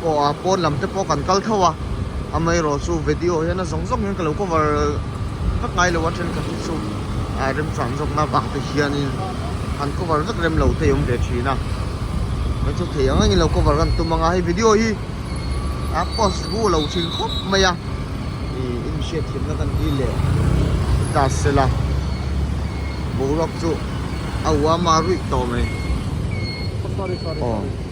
Aw a pawn lam te pawh kan kal tho a, amaherawh chu vedio hian a zawng zawng hian ka lo cover vek ngai lo a thenkhatna chu a remchuan zawkna vang te hianin han cover vek rem lo te hi a awm ve thin a, kan chu thei ang angin lo cover kan tum anga hei vedio hi a post bu lo thin khawp mai a, ih in hriat thiamna kan ti leh ta se la, boruak chu a uama ruih tawh mai. Aw.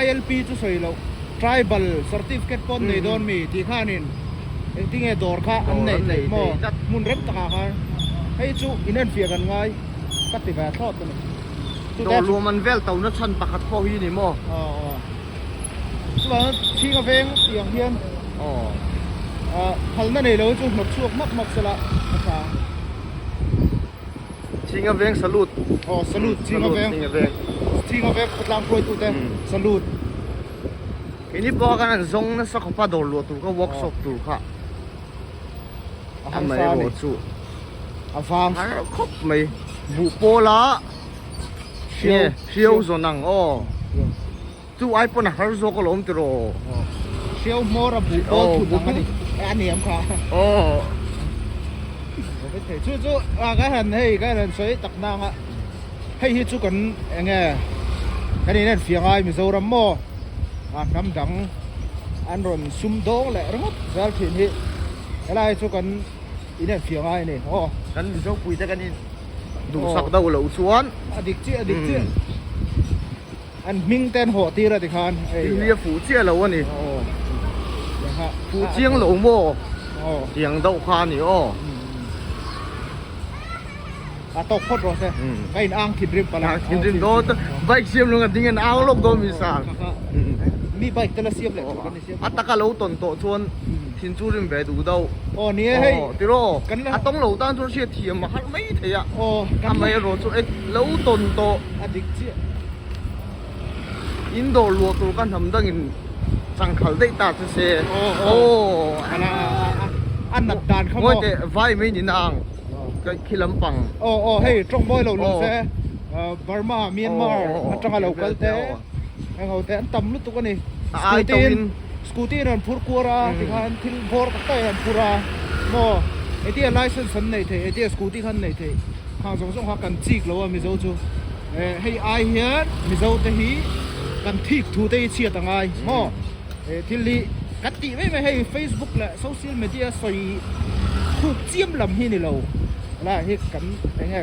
ILP chu sawi loh tribal certificate pawh an nei dawn mi tih khanin engtin nge dawr kha an nei theih maw hmun reng takah khan hei chu in en fiah kan ngai ka ti ve a thlawt ka ni dawr luam an vel to na chhan pakhat pawh hi ni maw chulaiah chuan thing a veng tih ang hian khalna nei lo chu hnawt chhuak hmak hmak sela a chang. Ching a veng salute. Aw salute ching a veng. Ching a veng. Ching a veng khawtlang khuaitu te salute. Ini pawh kan an zong nasa khawpa dawr luah tur kha workshop tur kha. Ahang sa ni. Chu. Avang sa khop mai. Bu pawla. Hriau hriau zawn ang aw. chu ai pawn a har zawk a lo awm tir aw hriau hmawr a buh bawk phut ang a ni a ni ang kha aw chu chu a ka han hei ka han sawi tak na anga hei hi chu kan eng e kan in en fiang ai mizoram maw a hnam dang an rawn sum dawng leh ringawt zal thin hi helai chu kan in en fiang ai ni aw kan mizo puite kan in duhsak deuh loh chuan a dik chiah a dik chiah An hming ten haw tir a ti khan. India fuh chiah lo a ni. Fuh chiang lo maw? Tiang deuh kha a ni aw. A tawk phawt rawh se. Ka in ang thin rim pala. Thin rim dawn. Bike siam lo ang a ding a in ang lawk dawn mi sang. Mi bike te la siam leh thin rim. A taka lo tawn tawh chuan thin chu rim ve duh dauh. Aw ni e hei. Aw tiraw aw. A tawng lo tan chuan hriat thiam a harh mai thei a. Aw. A mei erawh chu eng lo tawn tawh. A dik chiah. In dawr luah tur ka hnam dangin changkhal daih ta che se. Aw aw. Ala a nat dan kha maw. Ngawihte vai mai ni na ang ka khi lampang. Aw aw hei tawng bawi lo lawm se. Burma Myanmar atanga lo kal te. Eng ho te an tam lutuk a ni. A ai tawh in. Scooty in an phur kuar a tikhan thil bawr tak tak in an phur a maw eti a license an nei thei eti a scooty khan nei thei khang zawng zawng kha kan chik lo a mizo chu eh hei ai hian mizo te hi kan thik thu te hi chhiat a ngai maw eh thil hi kan tih mai mai hei Facebook leh social media sawi khuk chiam lam hi ni lo la hi kan eng nge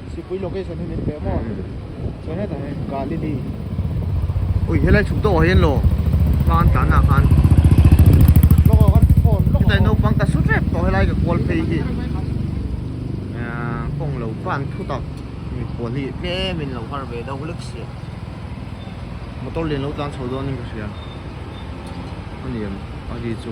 Sipui location hi min peh maw? Chuan hetah hian Galili. Ui helai chhuk deuh ah hian law hma an tlan ah khan. Lawk awk an phone lawk. Hetlai naupang ka su rep tawh helai ka kual phei hi. Kawng lo van thu tak mi pawl hi tlem in lo har ve deuh lek si a. Motor lian lo tlan chho dawn in ka hria. Aniang a ri chu.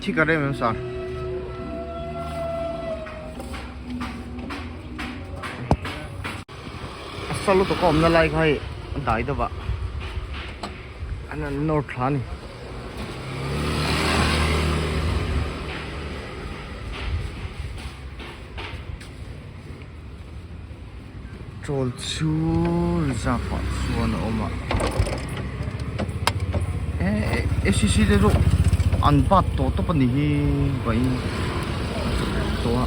Thi ka rem em sa. Salo to kom na lai khai dai da ba. Anan nor thlan. Chawl chu reserve ah chuan a awm a eh SCC te chu an bat tawh tawp a ni hi vahin ka hre fek tawh a.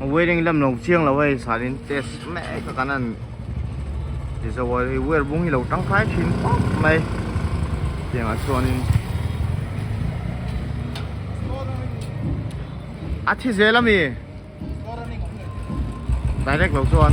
Wearing lam lo chiang lo hei sanin test mek a kan a ni tizo a hei wire bung hi lo tangkai thin pawp mai tiangah chuanin a thi zel a mi direct lo chuan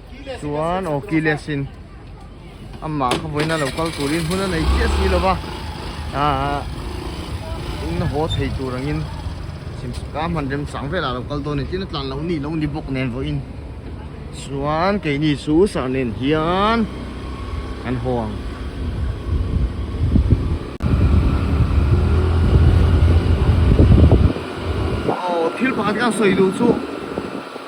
chuan aw keyless in amah kha vawiina lo kal turin hun a nei chiah si lova ah in na haw thei tur angin chim ka hman remchang velah lo kal dawn ni tina tlan lo ni lo ni bawk nen vawiin chuan keini chu sah nen hian kan haw ang aw thil pakhat hian sawi duh chu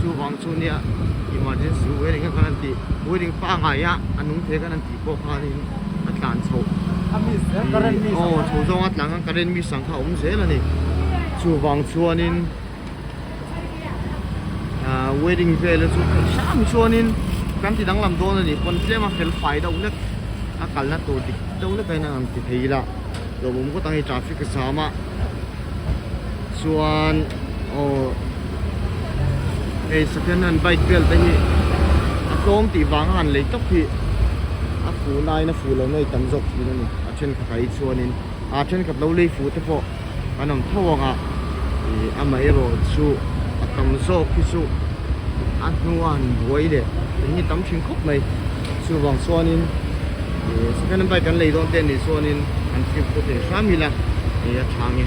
Chuvang chu nia emergency wedding a kan tih wedding pangai a a nung theih kan tih pawh khanin a tlan chho aw chho zawng a tlan khan current mi sang kha a awm zel a ni chuvang chuanin ah wedding vel a chu kal sang chuanin kan ti danglam dawn a ni pawn tlem a fel fai deuh hlek a kalna tur dik deuh hlek a inang ang ti thei ila hlauhawm kawtah hi traffic a jam a. chuan aw hei second hand bike bial te hi a tlawm tih vanga han lei tawp hi a fuhna a aina fuh lohna hi tam zawk thin a ni a thenkhat ah hi chuanin a thenkhat lo lei fuh te pawh kan awm tho ang a ih amaherawh chu a tam zawk hi chu a hnua han buai leh eng hi a tam thin khawp mai. Chuvang chuanin ih second hand bike kan lei dawn te nih chuanin an fib pawh theih hram ila ih a thang e.